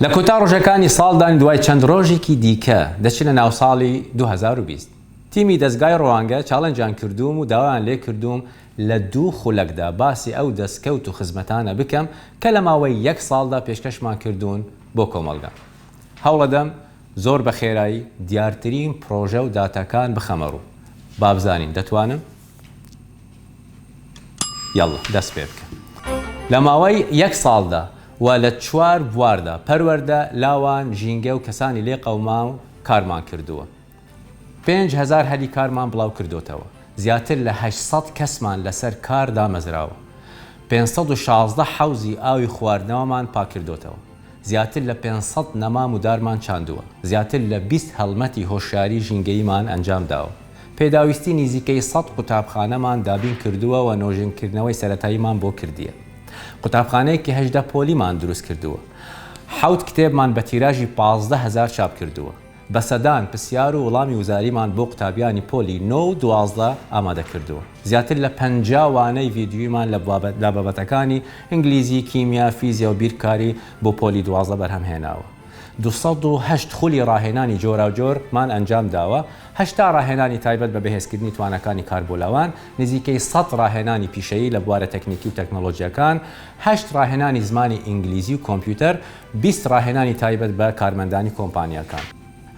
لە کۆتا ڕۆژەکانی ساڵدان دوای چەند ڕۆژێکی دیکە دەچنە ناو ساڵی دوو هەزار و بیست. تیمی دەزگای ڕوانگە چاڵێنجیان کردووم و داوایان لێ کردووم لە دوو خولەکدا باسی ئەو دەستکەوت و خزمەتانە بکەم کە لە ماوەی یەک ساڵدا پێشکەشمان کردوون بۆ کۆمەڵگە. هەوڵەدەم زۆر بە خێرایی دیارترین پڕۆژە و داتاکان بخەمە ڕوو. بابزانین دەتوانم؟ یەڵڵە دەست پێ بکە. لە ماوەی یەک ساڵدا و لە چوار بواردا، پەروەردە، لاوان، ژینگە و کەسانی لێ قەوماو، کارمان کردووە. پێنج هەزار هەلی کارمان بڵاو کردۆتەوە. زیاتر لە هەشت سەد کەسمان لەسەر کار دامەزراوە. پێنج سەد و شازدە حەوزی ئاوی خواردنەوەمان پاککردۆتەوە. زیاتر لە پێنج سەد نەمام و دارمان چاندووە، زیاتر لە بیست هەڵمەتی هۆشیاری ژینگەییمان ئەنجام داوە، پێداویستی نیزیکەی سەد قوتابخانەمان دابین کردووە و نۆژەنکردنەوەی سەرەتاییمان بۆ کردیە. قوتابخانەیەکی هەژدە پۆلیمان دروست کردووە. حەوت کتێبمان بە تیراژی پازدە هەزار چاپ کردووە. بە سەدان پرسیار و وڵامی وزاریمان بۆ قوتابیانی پۆلی نۆ و دوازدە ئامادە کردووە. زیاتر لە پەنجا وانەی ڤیدیویمان لە بابەتەکانی، ئینگلیزی، کیمیا، فیزیا و بیرکاری، بۆ پۆلی دوازدە بەرهەم هێناوە. دوو سەد و هەشت خولی ڕاهێنانی جۆراوجۆر مان ئەنجام داوە، هەشتا ڕاهێنانی تایبەت بە بەهێزکردنی تواناکانی کاربۆلاوان، نزیکەی سەد ڕاهێنانی پیشەیی لە بوارە تەکنیکی و تەکنۆلۆژییەکان، هەشت ڕاهێنانی زمانی ئینگلیزی و کۆمپیوتەر، بیست ڕاهێنانی تایبەت بە کارمەندانی کۆمپانیاکان.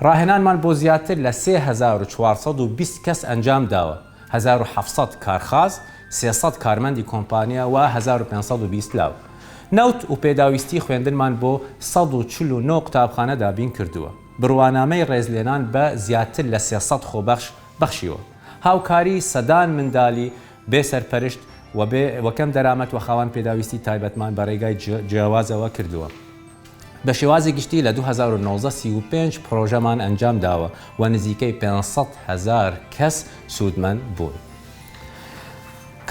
ڕاهێنانمان بۆ زیاتر لە سێ هەزار و چوار سەد و بیست کەس ئەنجام داوە، هەزار و حەفت سەد کارخاز، سێ سەد کارمەندی کۆمپانیا و هەزار و پێنج سەد و بیست لاو نەوت و پێداویستی خوێندنمان بۆ سەد و چل و نۆ قوتابخانە دابین کردووە، بڕوانامەی ڕێزلێنان بە زیاتر لە سێ سەد خۆبەخش بەخشیوە، هاوکاری سەدان مندالی بێ سەرپەرشت و بێ و کەم دەرامەت و خاوەن پێداویستی تایبەتمان بە رێگای جیاوازەوە کردووە. بە شێوازی گشتی لە دوو هەزار و نۆزدە سی و پێنج پرۆژەمان ئەنجام داوە و نزیکەی پێنج سەد هەزار کەس سوودمەند بوون.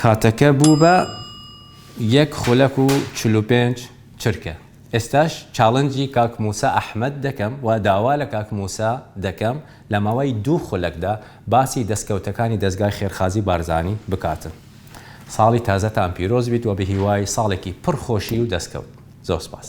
کاتەکە بوو بە یەک خولەک و چل و پێنج چرکە. ئێستاش چاڵنجی کاک مووسا ئەحمەد دەکەم و داوا لە کاک مووسا دەکەم، لە ماوەی دوو خولەکدا باسی دەستکەوتەکانی دەزگای خێرخازی بارزانی بکاتن ساڵی تازەتان پیرۆز بیت وە بەهیوای ساڵێکی پڕ خۆشی و دەستکەوت زۆر سپاس.